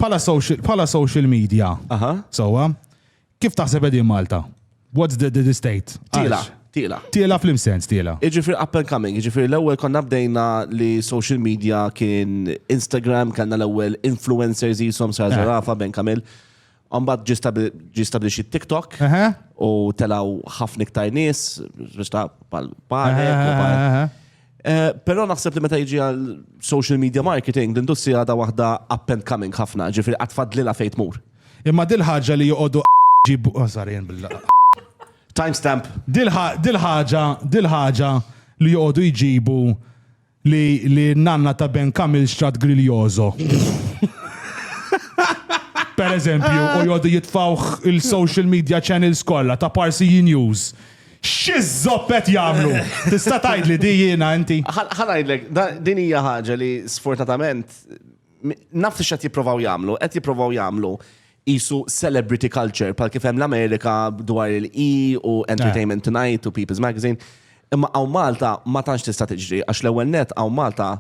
Bħala social media, sewwa, kif taħseb qegħdin Malta? What's the, the, the state? Tila, tila. Tila fl sens tila. Iġifir up and coming, iġifir l-ewel konna bdejna li social media kien Instagram, kanna l-ewel influencers jisom sarżarafa, eh. ben kamil. Mbagħad ġie stabbilixxi TikTok u telgħu ħafna iktar nies biex ta' parek. Però naħseb li meta jiġi għal social media marketing, l-industrija għadha waħda up and coming ħafna, ġifieri qatt fadlilha fejn tmur. Imma din ħaġa li joqogħdu ġibu żarien bil-laqgħa. Timestamp. Din ħaġa li joqogħdu jġibu Li li nanna ta' Ben Kamil xtrat Griljoso. Per eżempju, u jgħodu jitfawh il-social media channels kollha ta' Parsiji News. Xi żoppet jagħmlu! Tista' tgħidli di jiena inti? Ħa ngħidlek, din hija ħaġa li sfortunatament naf x'qed jipprovaw jagħmlu, qed jipprovaw jagħmlu jisu celebrity culture, pal kif hemm l-Amerika dwar il-E u Entertainment eh. Tonight u People's Magazine. Imma għaw Malta ma tantx tista' tiġri, għax l-ewwel net għaw Malta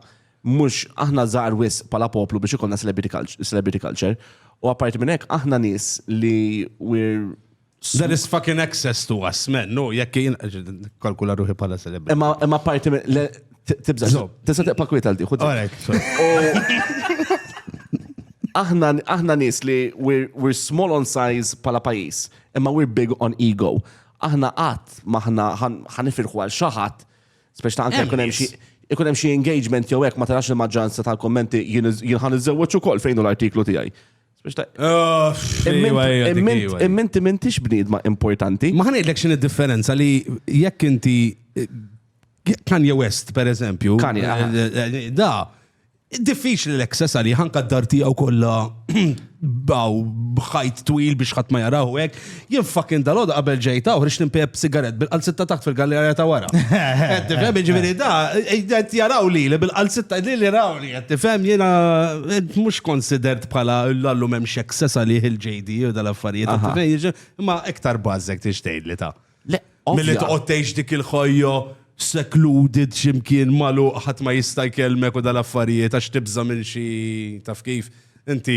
mhux aħna żgħar wis pala poplu biex ikonna celebrity culture. U apparti minn hekk aħna nies li we're There is fucking access to us, man. No, jekk jien kalkula ruħi pala celebri. Imma imma parti minn le tibża. Tista' tiqpa' kwiet għal diħu. Aħna aħna nies li we're, we're small on size pala pajis, imma we're big on ego. Aħna qatt maħna ħanifirħu għal xaħat, speċi ta' anke jkun hemm xi ikun hemm xi engagement jew hekk ma tarax il-maġġoranza tal-kommenti jien ħan iżewweġ ukoll fejn l-artiklu tiegħi. Imminti mintix bnidma importanti. Ma ħanidlek xin id-differenza li jekk inti Kanye West, per eżempju, eh, eh, eh, da, diffiċli l-access għalli ħanka d-dar tijaw kolla baw bħajt twil biex ħat ma jaraw hekk, Jien fucking dal-għoda qabel ġejt hawn rix nimpejb sigaret bil-qalzitta taħt fil-gallerja ta' wara. Qed tifhem jiġifieri da qed jaraw li li bil-qalzitta li li rawni qed tifhem jiena mhux considered bħala l-allum hemm x'excess għalih il-JD u dal-affarijiet. Imma iktar bażek tixtejn li ta'. Milli toqgħod tgħix dik il-ħajja secluded x'imkien magħluq ħadd ma jista' jkellmek u dal-affarijiet għax tibża' minn xi taf kif inti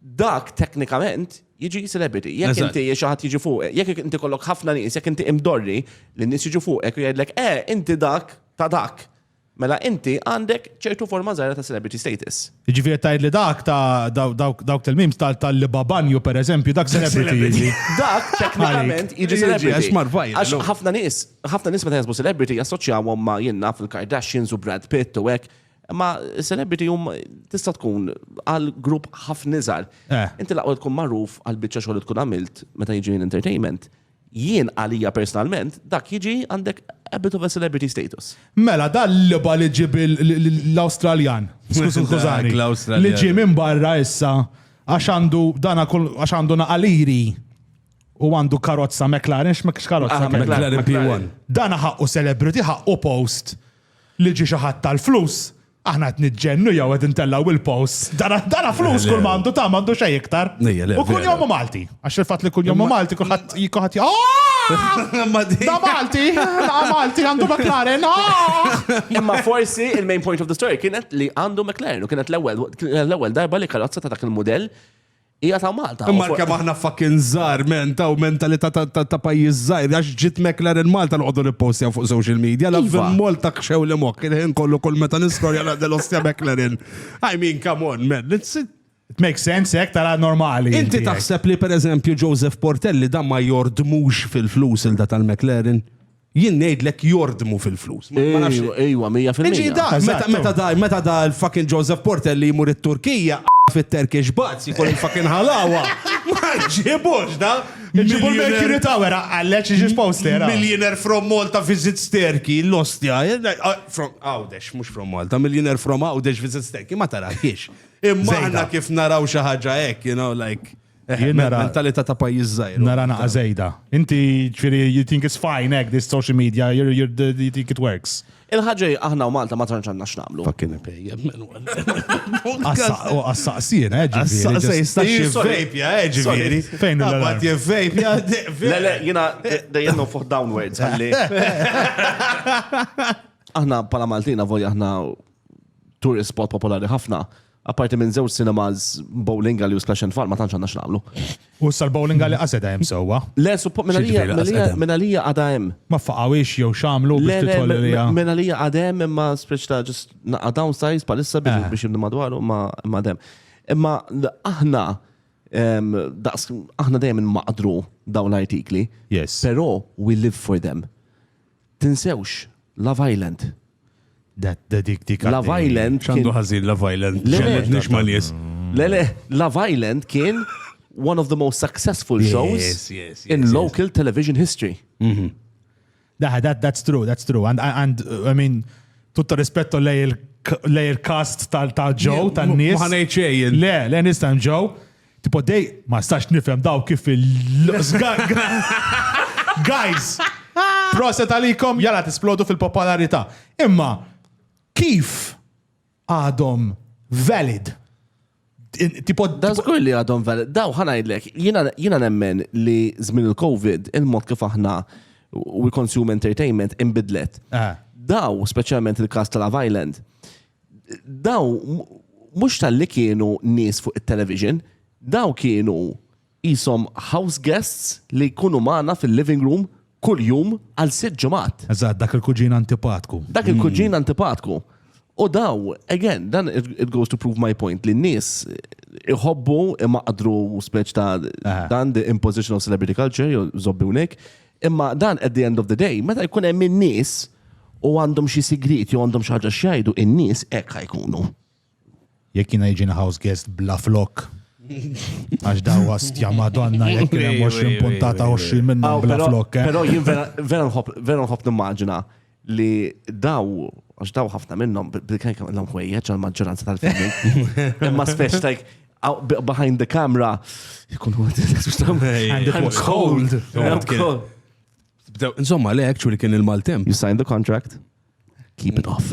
dak teknikament jiġi celebrity. Jekk Eżatt. inti xi ħadd jiġi fuq, jekk inti kollok ħafna nies, jekk inti imdorri li nies jiġu fuqek u jgħidlek, eh, inti dak ta' dak. Mela inti għandek ċertu forma żgħira ta' celebrity status. Ġifieri tgħid li dak ta' daw- dawk dawk tal-mims tal- tal-libabanju pereżempju dak celebrity jiġi. Dak teknikament jiġi Jiġi, celebrity. għax mar viral, Għax no? ħafna nies, ħafna nies meta jasbu celebrity jassoċjawhom ma' jien naf il-Kardashians u Brad Pitt u hekk. Ma celebrity hum tista' tkun għal grupp ħafna iżgħar. Eh. Inti laqgħu tkun magħruf għal biċċa xogħol tkun għamilt meta jiġi entertainment. Jien għalija personalment dak jiġi għandek a bit of a celebrity status. Mela dan l-liba li ġib l-Awstraljan. Skużani. Li ġie minn barra issa għax għandu dana għax għandu naqaliri u għandu karozza McLaren, x'mek x'karozza ah, McLaren P1. Dana ħaqqu celebrity, ħaqqu post li ġie xi ħadd tal-flus, aħna qed niġġennu jew qed intellgħu il-posts. Dana flus kull ma għandu ta' m'għandu xejn iktar. U kunjomu Malti, għax il-fatt li kunjomu Malti kulħadd kulħadd Da Malti, da Malti għandu McLaren. Imma forsi il-main point of the story kienet li għandu McLaren u kienet l-ewwel darba li karozza ta' dak il-mudell Hija ta' Malta. Imma kemm aħna fucking żgħar men ta' mentalità ta' pajjiż żgħir għax ġiet McLaren Malta noqogħdu nippostjaw fuq social media la iva. Molta kxew li mokk il-ħin kollu kull meta nistorja la delostja McLaren. I mean come on man. It makes sense hekk tara normali. Inti taħseb li pereżempju Joseph Portelli dan ma jordmux fil-flus il da tal-McLaren? Jien ngħidlek jordmu fil-flus. Ejwa, mija fil-mija. Meta da l-fucking Joseph Porter li jmur it-Turkija fit-Turkish Bats jkun il-fucking ħalawa. Ma ġibux da. Ġibu l-Mercury Tower għalleċ iġi poster. Millionaire from Malta visits Turkey, l-ostja. From Għawdex, mux from Malta. Millionaire from Għawdex visits Turkey, ma taraħiex. Imma kif naraw xaħġa ek, you know, like. Jien nara. Mentalità ta' pajjiż żgħir. Nara naqa żejda. Inti ġifieri you think it's fine hekk this social media, you're, you're, the- you think it works. Il-ħaġa hi, aħna u Malta ma tantx għandna x'nagħmlu. Fucking ipejjem minn Għassa- u Għas-saqsien, eh, ġifieri. Issa just- jista' Ih, xi sorry. vape, ja, eh, ġifieri. Sorry. Fejn il-alarm? Abbat je vape, ja, de- Le, le, jina dejjem nofoħ downwards għalli. Aħna pala Maltina volja aħna tourist spot popolari ħafna. Apparti minn żewġ cinemas, bowling alley u splash and fall, ma tantx għandna x'nagħmlu. U issa l-bowling alley qas qed hemm sewwa. Le, suppo- minn għalija- X'jiġifieri minn qas għalija- qed hemm? minn għalija għadha hemm. Ma ffaqgħuhiex jew x'għamlu biex Le, le, tidħol minn- għalija? minn għalija għadha hemm imma spiċ ta' ġust naqqa' downsize bħalissa biex Eh. biex jibnu madwaru imma imma għadha hemm. Imma l- aħna em, daqs aħna dejjem inmaqdru dawn l-artikli. Yes. Però we live for them. Tinsewx, Love Island. Love Island. Xandu ħażin Love Island. Ġellet nix ma' nies. Le, le, Love Island kien one of the most successful shows yes, yes, yes, in local television history. Mm -hmm. Daħ, that, that's true, that's true. And, and I mean, tutta rispetto lei il-cast tal-ġow, tal-nies. Ma ħanejċejn. Le, le, nistan ġow. Tipo dej, ma stax nifhem daw kif il Guys, proset għalikom jala tisplodu fil-popolarita. Imma, kif għadhom valid? Tipo, da zgur li għadhom valid. Daw ħanajdlek, jina nemmen li zmin il-Covid, il-mod kif aħna we consume entertainment imbidlet. Eh. Daw, specialment il-kas tal-Love Island, daw mhux tal-li kienu nies fuq it-television, daw kienu jisom house guests li jkunu magħna fil-living room kull jum għal sitt ġimgħat. Eżatt, dak il-kuġin antipatku. Dak il-kuġin antipatku. U daw, again, dan it goes to prove my point li n-nies iħobbu imaqdru speċ ta' eh. dan the imposition of celebrity culture, jew zobbi unek, Imma dan at the end of the day, meta jkun hemm in-nies u għandhom xi sigriet jew għandhom xi ħaġa x'jgħidu, in-nies hekk ħajkunu. Jekk jiena jiġini house guest bla flok. Għax daw għastja madonna jekk kien hemm 20 puntata 20 minnhom bla flok. Eh? Però jien vera nħobb nimmaġina li daw, għax daw ħafna minnhom, b'kajk għandhom ħwejjeġ għal maġġoranza tal-filmi. Imma speċ tajk, behind the camera, jkun għu għu cold. Insomma, le, actually kien il-maltemp. You signed the contract, keep it off.